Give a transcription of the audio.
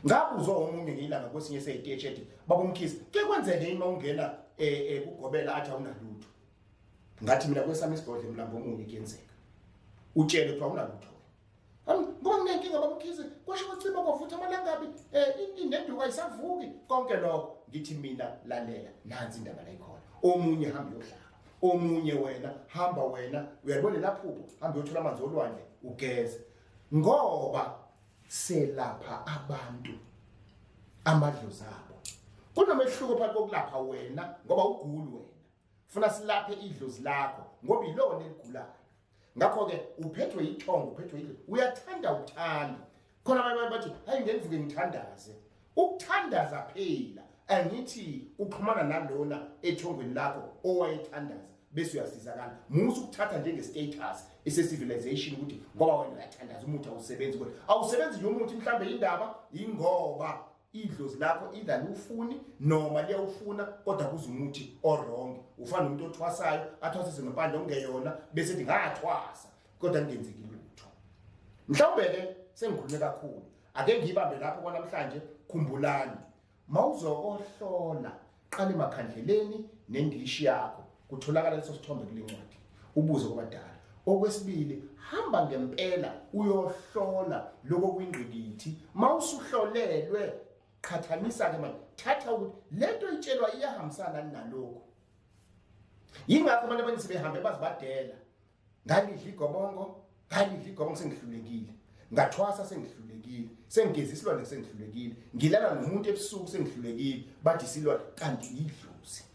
ngabuzwa omunye ngilanga kwesinye seyiteshi ethi babomkhisi ke kwenzeke yini mawungena eh, eh kugobela athi awunalutho ngathi mina kwesami isigodle mlambo omunye kuyenzeka utshele kuthiwa awunalutho ngoba nginenkinga babomkhisi kwasho kwaciba kwavutha amalangabi um eh, inenduka isavuki konke lokho ngithi mina lalela nansi indaba layikhona omunye hambe yohlala omunye wena hamba wena uyalibona laphupho hamba yothola amanzi olwandle ugeze ngoba selapha abantu amadlozi abo kunomehluko phakathi kokulapha wena ngoba uguli wena funa silaphe idlozi lakho ngoba ilona eligulayo ngakho-ke uphethwe yithongo uphethwe yidlozi uyathanda uthanda khona abanye bathi hayi ngenvuke ngithandaze Ukuthandaza phela angithi uxhumana nalona ethongweni lakho owayethandaza bese uyasizakala musa ukuthatha njengestatus esecivilization ukuthi ngoba wena uyathandaza umuthi awusebenzi kodwa awusebenzi nje umuthi mhlawumbe indaba yingoba idlozi lakho either liwufuni noma liyawufuna kodwa kuze umuthi orong ufana nomuntu othwasayo athwasise ngempande okungeyona bese ethi ngathwasa kodwa kungenzeki lutho mhlawumbe-ke sengikhulume kakhulu ake ngiyibambe lapho kwanamhlanje khumbulani mawuzokohlola qale makhandleleni nendishi yakho kutholakala leso sithombe kulencwadi ubuze kwabadala okwesibili hamba ngempela uyohlola lokho kwingqikithi mawusuhlolelwe qhathanisa ke manje thatha ukuthi lento itshelwa iyahambisana nalokho yingakho abantu abaningi sebehambe bazibadela ngalidla igobongo ngalidla igobongo sengihlulekile ngathwasa sengihlulekile sengigeza isilwane sengihlulekile ngilala nomuntu ebusuku sengihlulekile bathi isilwane kanti yidlozi